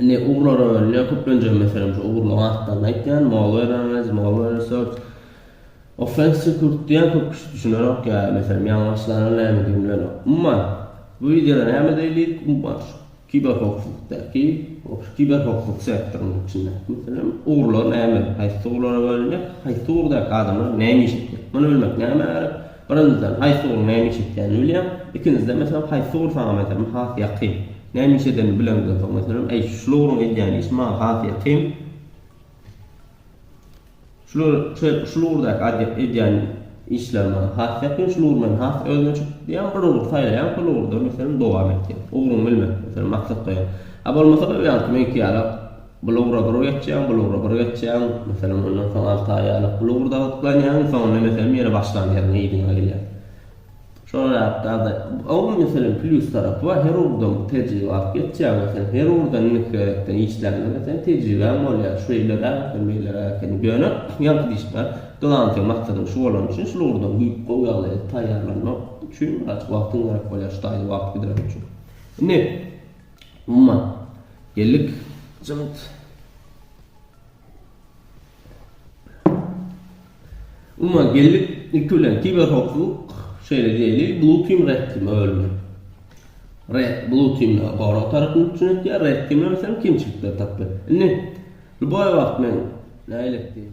Indi ugurlar öwrenilýär, köplenje meselem şu ugurlaryň atlaryny aýtýan, malware analiz, malware research, offense security diýen köp kişi düşünerok ýa meselem ýalňyşlanan nämedir bilenok. Umuman, bu wideoda näme diýilýik, umuman şu kiberhowpsuzlykdaky, şu kiberhowpsuzlyk sektorynyň içindäki meselem ugurlar näme, haýsy ugurlara bölünýär, haýsy ugurdaky adamlar näme iş etmeli, muny bilmek nämä gerek? Birinjiden, haýsy ugruň näme iş etýänini bilýäň. Ikinjiden, meselem, haýsy ugur saňa, meselem, has ýakyn. Näme iş edenini bileňden soň, meselem, äý, şul ugruň edýän işi maňa has ýakyn. Şular, şeýle, şul ugurdaky adýa, edýän işler maňa has ýakyn, şul ugur meni has özüne çekdi diýýäň, bir ugur saýlaýaň, şol ugurda, meselem, dowam etýäň. Ugruňy bilmek, meselem, maksat goýaň. A bolmasa-da, bu ýaňky meňki ýaly, Bul ugra bir geçýäň, bul ugra bir geçýäň. Meselem, ondan soň alty aý ýalyk bul ugurda gyzyklanýaň, soňunda, meselem, ýene başlan ýeriňe, yzyňa gelýäň. Şol zatlarda, oň, meselem, plýus tarapy bar, her ugurdan bir tejribe alyp geçýäň. Meselem, her ugurdan indiki gezeklere işläňde, meselem, tejribäň bolýar. Şeýleräk eken, beýleräk eken. Ýöne, ýaňky diýşime, glantyň maksadyň şu bolany üçin, şul ugurdan gowy ýagdaýda taýýarlanmak üçin, wagtyň gerek bolýar şu taýda wagt gidirmek üçin. Indi. Umuman, ýellik jygyt. Umuman, ýellik niki bilen kiberhowpsuzlyk, şeýle diýeli, Blue Team, Red Team bölünýär. Red, Blue Team gorag tarapyny üpjün etýär, Red Team bolsa kemçilikleri tapýar. Indi, lýuboý wagt men nähili etdim?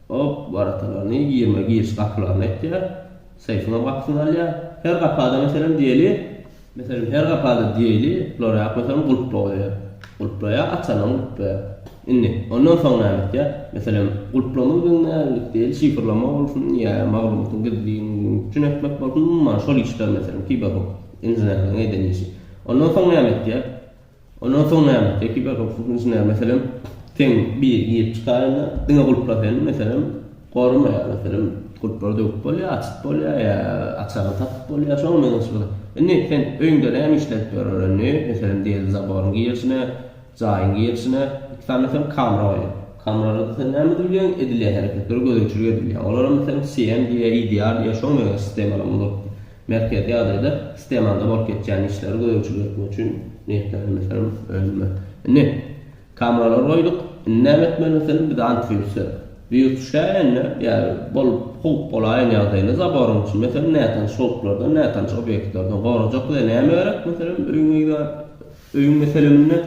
Hop, waratalany, girme giriş gapylaryny etýär. Seýfiňem gapysyny alýar. Her gapy-da, meselem, diýeli, meselem, her gapy-da diýeli, Loreak, meselem, gulp goýýar. Gulplaýar, açanam gulplaýar. Indi, ondan soň näme etýär? Meselem, gulplama biziň nämelik diýeli, şifrlama bolsun ýa maglumatyň gizlinligini üpjün etmek bolsun, umuman, şol işler, meselem, kiberhukuk inženerleriň eden işi. Ondan soň näme etýär? Ondan soň näme? Ekibe howpsuzlyk inženeri, meselem, seň biri girip çykarynda, diňe gulpla sen, meselem, goramaýar, meselem, gulplary döwüp bolýar, açyp bolýar ýa açaryny tapyp bolýar, şoňa meňzeşlik. Indi sen öýüňde näme işledip ýörler indi, meselem, diýeli zaboryň girişine, jaýyň girişine iki sany meselem kamera goýup, kameralary sen näme edip bilýäň, edilýän hereketleri gözegçilik edip bilýäň. Olara, meselem, CM diýýär, EDR diýýär, şoňa meňzeş sistemalar bolup. Merkezi Aziýada stemanda bolup geçýän işleri gözegçilik etmek üçin niýetlenen meselem önüme. Indi, kameralary goýduk, indi näme etmeli meselem biz antiwirusda? Wirus düşäýende ýa bolup howp bolaýan ýagdaýynda zaboryň içini meselem nätanyş howplardan, nätanyş obýektlerden gorajak bize näme gerek meselem öýüňizde öýüň meseleminde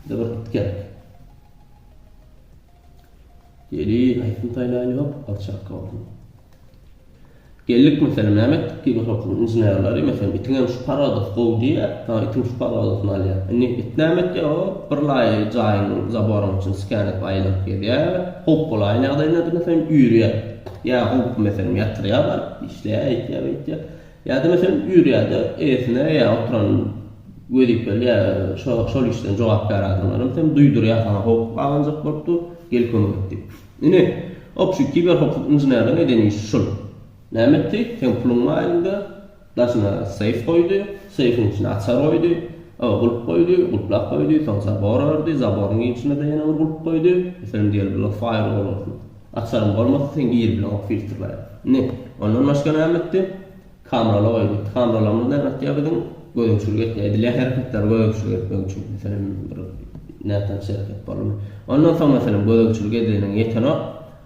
bize bir it gerek. Gelin aýtsyn saýlaýynok alçakka bolsun. Geldik meselem näme etdik diýip oturtdym inženerleri meselem itiňem şu parodasy gowy diýýär ha itiň şu parodasyny alýar indi it näme etýär o bir laýy jaýyň zaboryň içini skan edip aýlanyp gezýär howp bolaýan ýagdaýynda meselem üýrýär ýa howpy meselem ýatyrýar baryp işleýär eýtýär beýtýär Ýa-da meselem ýörýärde eýesine ýa oturan wezipeli ýa şol işden jogapkär adamlar hem sen duýdurýar saňa howp gabanjak bolup dur gel kömek et diýip. Ine obşi kiber hukuk inženerligiň eden işi şul. Näme etdi? Seň puluň bar elinde, daşyna seýf goýdy, seýfiň içine açar goýdy, oba gulp goýdy, gulplap goýdy, soň zabor ördi, zaboryň içine-de ýene bir gulp goýdy, meselem diýeli bular faýrwol bolsun. Açaryň bolmasa seň ýer bilen ok filtr barat. Indi ondan başga näme etdi? Kameraly goýdy. Kameralarymyz näme etýär biziň? Gözegçilik etýär. Edilýän hereketleri gözegçilik etmek üçin. Meselem bir nätanyş hereket boldy. Ondan soň meselem gözegçilik edeniň ýetenok.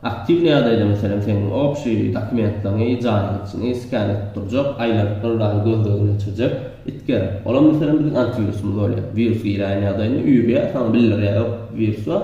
Aktiwny ýagdaýda meselem seň obşi dokumentleriňi, jaýaňyçyňy skan edip durjak, aýlanyp ylgaýy gözlegini geçirjek. It gerek. Olam meselem biziň antiwirusymyz bolýar. Wirus girýän ýagdaýynda üýrýär, saňa bildirýär ýok wirus bar.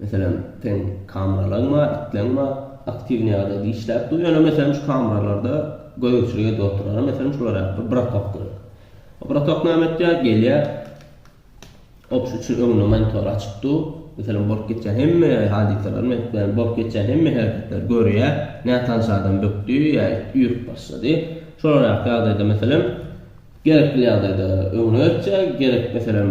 Meselem, seň kameralarň bar, itleň bar, aktiwnyý ýagdaýda işläp dur, ýöne meselem şu kameralarda gözegçilik edip oturan, meselem şular ýaly bir bratok gerek. O bratok näme etýär, gelýär, op şu üçin öňünde monitor açyk dur, meselem bolup geçýän hemme hadysalary, meselem bolup geçýän hemme hereketleri görýär, nätanyş adam bökdi ýa it üýrüp başlady, şolar ýaly ýagdaýda meselem, Gerekli ýagdaýda öňüne geçýä, gerekmeselem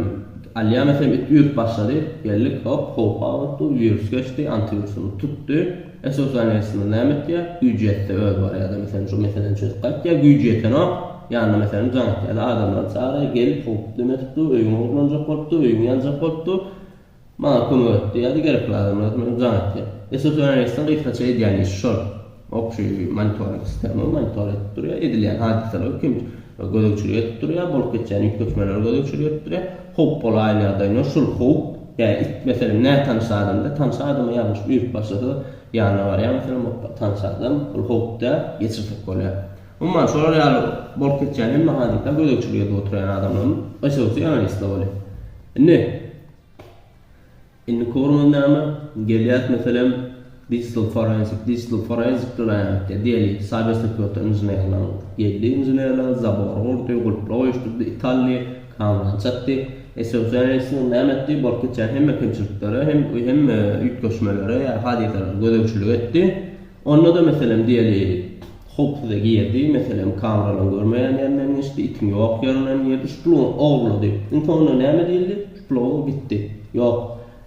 alýa meselem it üýrüp başlady, geldik hop howp aglatdy, wirus geçdi, antiwirusymyz tutdy, SOS-Alýansymyz näme etýä, güýji ýetse özi barýada meselem şu meseleni çözüp gaýtýa, güýji ýetenok, ýanyna meselem jaň etýäda adamlary çagyrýa, gelip howp näme etdi, öýüň ogurlanjak bolupdy, öýüň ýanjak bolupdy, Maňa kömek etdi ýa-da gerekli adamlar bilen jan atýar. Esas Öneneýsden gysgaça edýän işi şol. Obşi monitoring sistema monitor edip durýar, edilýän hadysalary kim gözegçilik edip durýar, bolup geçýän üýtgeşmeleri gözegçilik edip durýar. Howp bolaýan ýagdaýynda şul howp, ýa it meselem nätanyş adamda, tanyş adama ýalňyş üýrüp başlasa ýanyna barýar meselem hop tanyş adam, ol howp däl, geçirsek bolýar. Umuman şolar ýaly bolup geçýän hemme hadysa gözegçilik edip oturýan adamlaryň esasy Öneneýsde bolýar. Indi. Indiki ugruňyz näme? Gelýäs, meselem, digital forensik, digital forensik bilen aýanykda, diýeli, saýbersekuriti inženerler geldi, inženerler zabory gurdy, gulpla goýuşdyrdy, it aldy, kamerany çatdy. Esewsem resmi näme etdi? Bolup geçýän hemme kemçiliklere hem, hem üýtgeşmelere ýa hadysalara gözegçilik etdi. Onda-da, meselem, diýeliň, howpsyza girdi, meselem, kameralaryň görmeýän ýerinden geçdi, itiň ýok ýerinden girdi, şu puluň ogurlady. Iň soňunda näme diýildi? Şu pul ogry gitdi. Ýok.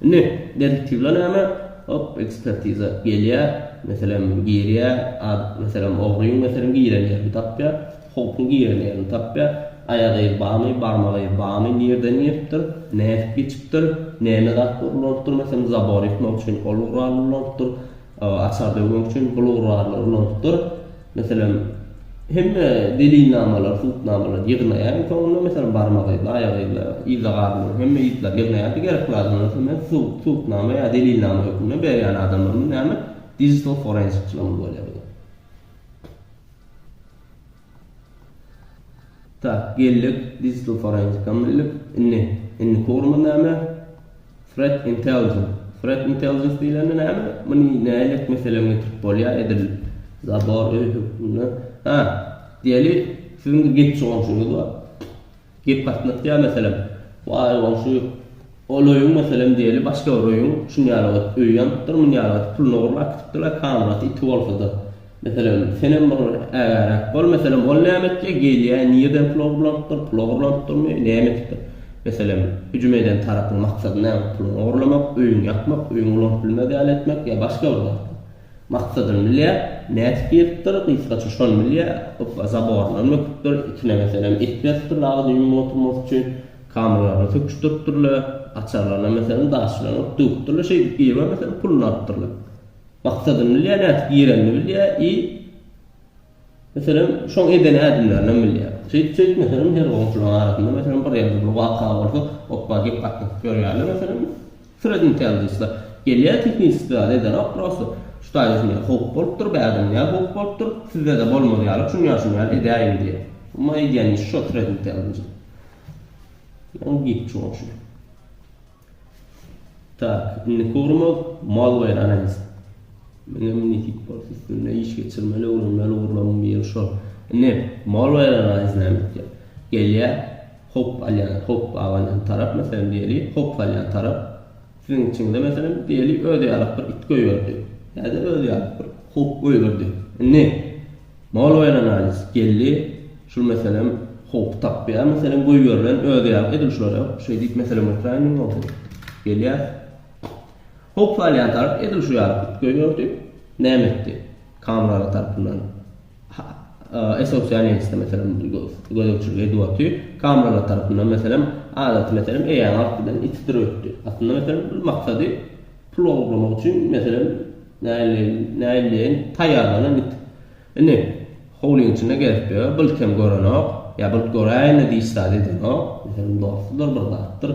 Indi, detektiwler näme? Hop, ekspertiza gelýär, meselem, girýär, ad, meselem, ogryň, meselem, giren ýerini tapýar, howpyň giren ýerini tapýar, aýak yzy barmy, barmak yzy barmy, nirden giripdir, nädip geçipdir, näme zat ulanylpdyr, meselem, zabor ýykmak üçin ol guraly ulanypdyr, Açar döwmek üçin bu lugurlarly urnalykdyr. Meselem, hemme delilnamalary, subutnamalary ýygnaýaryn, soňunda, meselem, barmak yzly, aýak yzly, yza garynly, hemme yzlary ýygnaýaryn, gerekli adamlara soňra subut, subutnama ýa delilnama hökmünde berýän adamlarymyz näme, digital forensikçilerimiz bolýar bu da. Tak, geldik, Digital Forensic-a mündik. Indi, indiki ugrumyz näme? Threat Intelligence. Threat Intelligence diýlende näme? Muny nälet meselem getirip bolýar, edil zabor öý hökmünde. Ha, diýeli, siziň bir gepçi goňşyňyz bar. Gep gatnatýa meselem, waý goňşy, ol öýüň meselem diýeli başga bir öýüň şunýaly gat öýi ýanypdyr, munýaly gat puluny ogurlap gitipdirler, kamyrat iti bolsada. Meselem, senem bir ägäräk bol, meselem, ol näme etjek, gelýä, nirden pul ogurlanypdyr, pul ogurlanypdyrmy, näme etipdir? Meselem, hüjüm eden tarapyň maksady näme, puluňy ogurlamak, öýüňi ýakmak, öýüňi ulanyp bilmez ýaly etmek ýa başga bir zatmy? Maksadyny bilýär, nädip giripdir, gysgaça şony bilýär, gypba zaboryndan böküpdir, itine meselem it beripdir dagy düýn oturmak üçin, kamyllaryna söküşdiripdirler, açarlaryna meselem daş bilen urup döwüpdirler, şeýdip girme meselem puluny alypdyrlar. Maksadyny bilýär, nädip girenini bilýär i. Meselem, şoň eden ädimlerindenem bilýär. Şeýdip, şeýdip, meselem, her goňşulaň arasynda, meselem, bir ýerde bir waka bolsa, hopba, gep gatnaşyp ýörýärler, meselem, sredni tejlisler. Gelýär, tehniçi zat ederok, prosto, şu taýda şundaý howp bolupdyr, bärde munýa howp bolupdyr, sizde-de bolmaz ýaly, şunýa, şunýa edäýiň diýýär. Umma edýän işi şo sredni tejlis. Ýa-da gitçi goňşy. Tak, indiki ugrumyz malware analiz. Meňem nesip bolsa üstünde iş geçirmeli, öwrenmeli ugurlarymyň biri şo. Indi malware analiz näme etýär? Gelýär, hop alýan, hop abanýan tarap, meselem diýeli, hop salýan tarap siziň içiňize meselem diýeli öz ýalyk bir it goýberdi. Ýa-da öz ýalyk bir hop goýberdi. Indi Mol we analiz geldi şul meselem howp tapýar meselem goýberilen özi ýaly edil şulara şeý diýip meselem götüräýen diýen bolsa gelýär howp salýan tarap edil şu ýaly üýtgeý gördi näme etdi kameralar tarapyndan esosyýan ýeňse meselem gözegçilik edip oty kameralar tarapyndan meselem adaty meselem eýäň artyndan itdirip ötdi aslynda meselem bir maksady pul ogurlamak üçin meselem Näleýin, näleýin, taýýarlanan it indi howlyň içinde gezip ýör, bylt hem görenok, ýa bylt göräýende diş zat edenok, meselem dostudyr, bir zatdyr.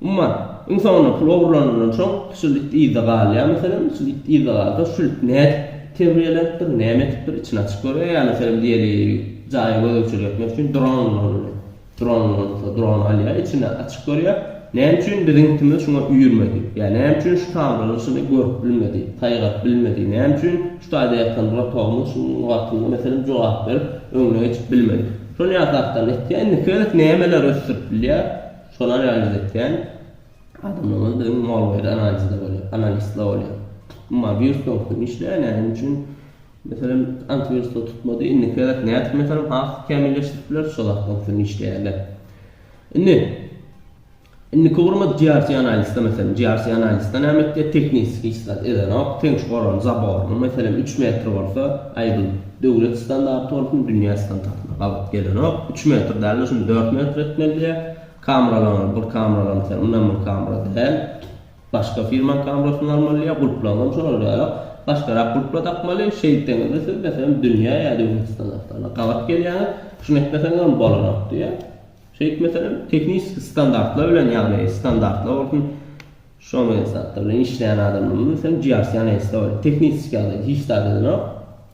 Umuman, iň soňunda pul ogurlanandan soň şul it yzda galýar, meselem, şul it yzda galsa, şul it nädip terbiýelenipdir, näme etipdir, içini açyp görýär, ýa meselem diýeliň, jaýa gözegçilik etmek üçin dron ulanylýar. Dron bolsa dron alýar içini açyk görýär. Näme üçin biziňkimiz şuňa üýrmedi? Ýa näme üçin şu tamyryň yşyny görüp bilmedi, saýgaryp bilmedi? Näme üçin şu taýda ýatan rotogymyz şu wagtymyza meselem jogap berip öňüne geçip bilmedi? Şony ýatakdan etýän indiki gezek nämeler ösdürip bilýär şony analiz etýän adamlarymyz biziň molwayr analizde bolýar, analistler bolýar. Umuman wirus soňky gün işleýär näme üçin Meselem, antiwiruslar tutmady. Indiki gezek nädip meselem has kämilleşdirip bileris şo zatlar bilen işleýärler. Indi indiki gurmak GRC analizde meselem GRC analizde näme etdi? Teknis hiç zat edenok. Teň şu goran zaboryny meselem 3 metr bolsa, aý bu döwlet standarty bolsun, dünýä standartyna gabat gelenok. 3 metr däl-de şuny 4 metr etmeli diýýär. Kameralaryň bir kameralaryň sen mundan bir kamera däl. Başga firma kamerasyny almaly ýa gulplaňam şolardaýa başgarak gulpla dakmaly şeýtseňizde siz meselem dünýä ýa döwletstan awtana gabat gelýäňiz şuny etmeseňizem bolanok diýýä şeýtmeselem tehniski standartlar bilen ýagny standartlar bolsun şo men zatlar bilen işleýän adamlar bilen sen jiýarsýan ýa ýa tehniski ýagdaý hiç zat edenok.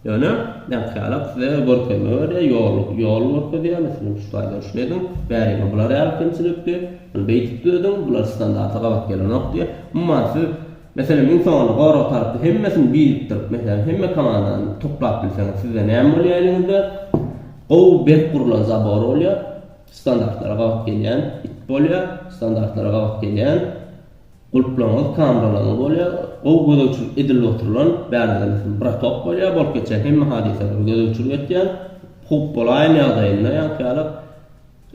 Ýöne, nätgärem size görkezme berýär, ýol, ýol görkezýär, meselem, şu slaýda şuny ediň, bäriňe bular ýaly kemçilikdi, muny beýdip düzediň, bular standarta gabat gelenok diýip, umuman siz, meselem, iň soňunda gorag tarapda hemmesini birikdirip, meselem, hemme komandany toplap bilseňiz, sizde näme bolýar eliňizde? Gowy, berk gurlan zabor bolýar, standartlara gabat gelýän it bolýar, standartlara gabat gelýän Gulplaňyz kamralaňyz bolýar. Gowy gözegçilik edilip oturylan bärdemisiň bratok bolýar. Bolup geçýän hemme hadysalary gözegçilik etýän. Howp bolaýan ýagdaýynda ýaňky ýaly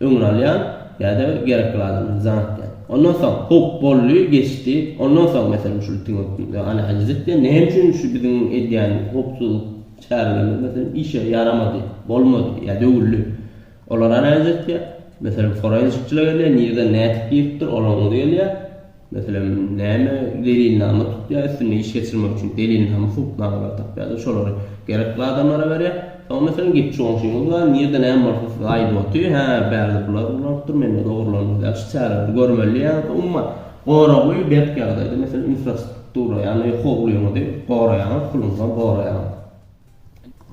öňüni alýan ýa-da gerekli adamlary jan atýan. Ondan soň howp boldy, geçdi. Ondan soň meselem şul itiň hökmünde analiz etýän. Näme üçin şu biziň edýän howpsuzlyk çärelerimiz meselem işe ýaramady, bolmady ýa döwüldi? Olar analiz etýär. Meselem, forensikçiler gelýär, nireden nädip giripdir, olaryň özi gelýär. Meselem, näme delilnama tutýar, üstünde iş geçirmek üçin delilnama, subutnamalary tapýar-da, şolary gerekli adamlara berýär. Soň, meselem, gitçi goňşyňyz bar, nirde näme bolsa size aýdyp otyr, hä, bärde bular ulanypdyr, mende ogurlandy, ýaly çäreleri görmeli ýaly. Umuman, goragy berk ýagdaýda, meselem, infrastruktura, ýagny howlyňyzy goraýaňyz, puluňyzam goraýaňyz.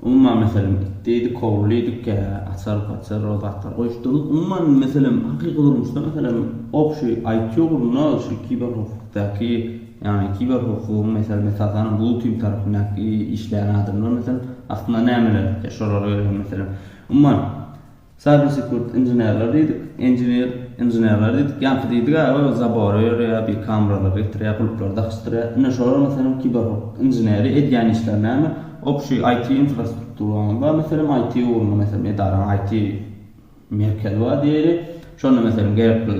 Umuman, meselem, itdiydik, kowlydiydik, kä, açar, paçar, o zatlar goýupdyryn. Umuman, meselem, hakyky durmuşda, meselem, ok şu IT ugrunda, şu kiberhowpsuzlykdaky, ýagny kiberhowpsuzlygyň, meselem, esasanam blue team tarapyndaky işleýän adamlar, meselem, aslynda nämeler etýär, şolara görä hem, meselem, umuman, Cybersecurity inženerler diýdik, engineer inženerler diýdik, ýaňky diýdik-ä ol zabory örýär, bir kamralary getirýär, gulplary dakysdyrýar. Ine şolar meselem kiberhukuk inženeri edýän işleri näme? Obşi IT infrastrukturanyň bar meselem, IT ugrunda meselem edaraň IT merkezi bar diýeli. Şonda meselem gerekli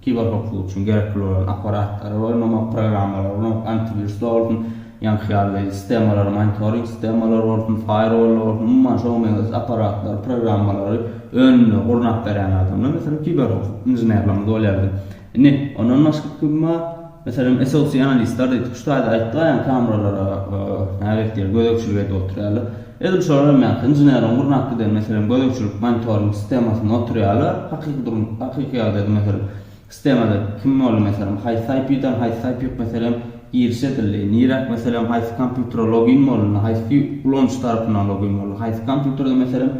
Kiberhowpsuzlyk üçin gerekli bolan apparatlary bolmamak, programmalary bolmamak, antiwiruslar bolsun, ýaňky ýaly sistemalar, monitoring sistemalary bolsun, faýerwollar bolsun, umuman şoňa meňzeş apparatlary, programmalary önümleri gurnap berýän adamlar, meselem, kiberhowpsuzlyk inženerlerimiz bolýardy. Indi, ondan başga kim bar? Meselem, esosianistler diýip, şu taýda aýtdylar, kameralara nälet ýer gözegçilik edip oturýarlar. Edil şolar hem ýaly, inženeriň gurnap giden, meselem, gözegçilik monitoring sistemasynda oturýarlar, hakyky durum, hakyky ýagdaýda, meselem, sistemada kim boldy, meselem, haýsy IP-den, haýsy IP, meselem, giriş edildi, niräk, meselem, haýsy kompýutere login bolundy, haýsy ulanyjy tarapyndan login bolundy, haýsy kompýuterde, meselem,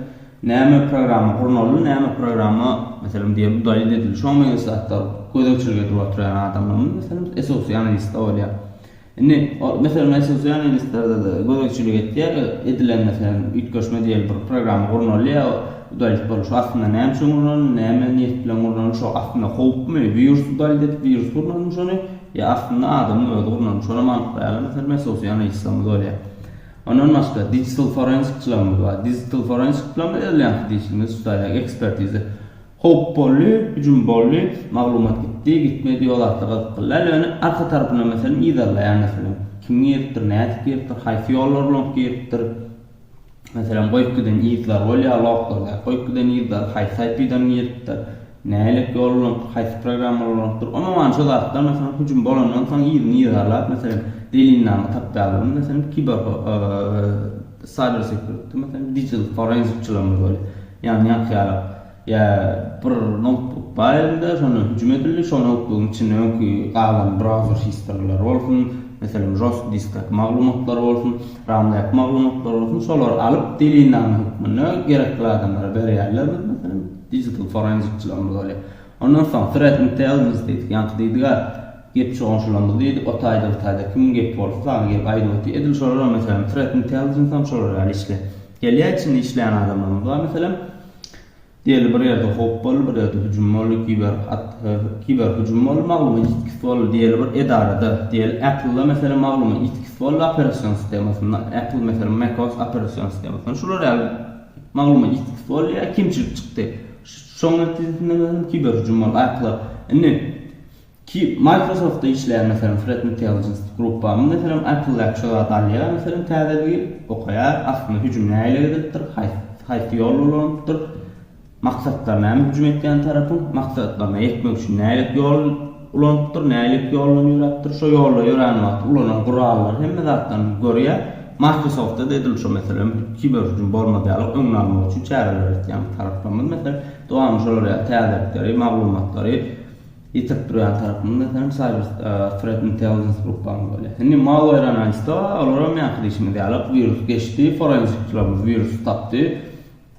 Näme programma gurnaly, näme programma meselem diýe bu daýyt edildi. Şoňa meňzeş zatlar gözegçilik edip oturýan adamlarymyz meselem SOC analistde bolýar. Indi o meselem SOC analistlerde-de gözegçilik etýär, edilen meselem üýtgeşme diýeli bir programma gurnalýar, bu daýyt bolup şu aslynda näme üçin gurnaldy, näme niýet bilen gurnaldy, şo aslynda howpmy, wirusy daýyt edip wirus gurnalymy şony, ýa aslynda adamyň özi gurnalymy şonam anyklaýarlar meselem SOC analistlerimiz bolýar. Ondan başga digital forensik çylagyňyz bar. Digital forensik çylagyňyz öz ýaňky dişiňizi tutaýar, ekspertiza. Howp boldy, hüjüm boldy, maglumat gitdi, gitmedi, ýok zatlar gyzykly däl, ýöne arka tarapyndan meselem yzarlaýar meselem. Kim giripdir, nädip giripdir, haýsy ýollar bilen giripdir. Meselem goýup giden yzlar bolýar, loklar däl, goýup giden yzlar, haýsy IP-den giripdir. Nälik ýol ulanypdyr, haýsy programmalar ulanypdyr, umuman şu zatlar, meselem, hüjüm bolandan soň yzyny yzarlap, meselem, delilnama tapýarlar, meselem, kiber cyber security, meselem, digital forenzikçilerimiz bolýar, ýany ýakýarlar, ýa bir noutbuk bar elinde, şondan hüjüm edildi, şo noutbugyň içinde öňki galan browser history'lary bolsun, meselem, žostki diskdäki maglumatlar bolsun, ramdaky maglumatlar bolsun, şolary alyp, delilnama hökmünde gerekli adamlara berýärler, meselem, Digital forensic çylamyz bolýar. Ondan soň threat intelligence diýdik. Ýaňky diýdiga gep çoganşylamyz diýdik. O taýda bu taýda kimiň gepi bolsa sany gelip aýdyp otyr. Edil şolaram meselem threat intelligencem şolar ýaly işleýär. Gelýär içinde işleýän adamlarymyz bar meselem. Diýeli bir ýerde howp boldy, bir ýerde hüjüm boldy, kiber kiber hüjüm boldy, maglumat ýitgisi boldy. Diýeli bir edarada, diýeli Apple-da meselem maglumat ýitgisi boldy operasion sistemasynda. Apple meselem Mac OS operasion sistemasynda. Şular ýaly Maglumat ýitgis bolýar, kemçilik çykdy. Şoň netijesinde meselem kiberhüjüm boldy. Aýkla indi Microsoft-da işleýän meselem Threat Intelligence gruppamyz meselem Apple-däki şu zady alýar meselem täzeligi, okaýar, aslynda hüjüm nähili edilipdir, haýsy ýol ulanylypdyr, maksatlar näme hüjüm etýän tarapyň maksatlaryna ýetmek üçin nälet ýol Ulanypdyr, nälik ýoldan ýöräpdir, şo ýolda ýörän wagty ulanan gurallary hemme zatdan görýä. Microsoft-da edil şo meselem kiber hüjüm bolmaz ýaly öňüni almak üçin çäreler etýän taraplarymyz meselem dowamly şolar ýaly täzelikleri, maglumatlary ýetirip durýan tarapymyz meselem cyber threat intelligence gruppamyz bolýar. Indi malware analyst-a olaram ýaňky diýşimiz ýaly wirus geçdi, forenzikçilerimiz wirusy tapdy.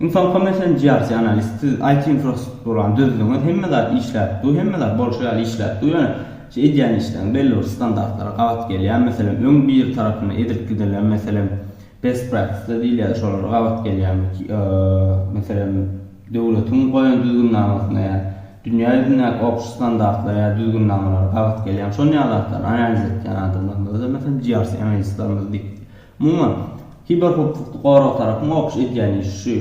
Infocom FM GRC Analyst siz IT infrastrukturany düzdüňiz, hemme zat işläp dur, hemme zat bolşy ýaly işläp dur, ýöne şu edýän işleriň belli bir standartlara gabat gelýär, meselem öň biri tarapyndan edilip gidilen meselem best practice diýilýär şolara gabat gelýärmi meselem döwletiň goýan düzgünnamasyna ýa dünýä ýüzündäki obşy standartlara ýa düzgünnamalara gabat gelýärmi şonýaly zatlary analiz etýän adamlarymyzda meselem GRC analistlerimiz diýip Umuman, kiberhowpsuzlykda gorag tarapyň okyş edýän işi şu,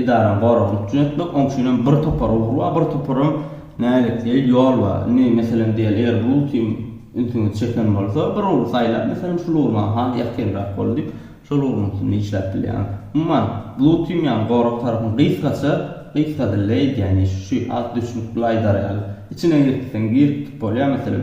edarany goragyny üpjün etmek, oň üçin hem bir topar ugur bar, bir topar hem nälet diýeli ýol bar. Indi, meselem, diýeli, eger bu ugry hem ünsüňizi çeken bolsa, bir ugry saýlap, meselem, şul ugur maňa has ýakynrak boldy diýip, şol ugruň üstünde işläp bilýäňiz. Umuman, Bluetm ýaly gorag tarapyň gysgaça, gysga dilde edýän işi şu, has düşnükli aýdar ýaly, içine girip gitseň girip gidip bolýar, meselem,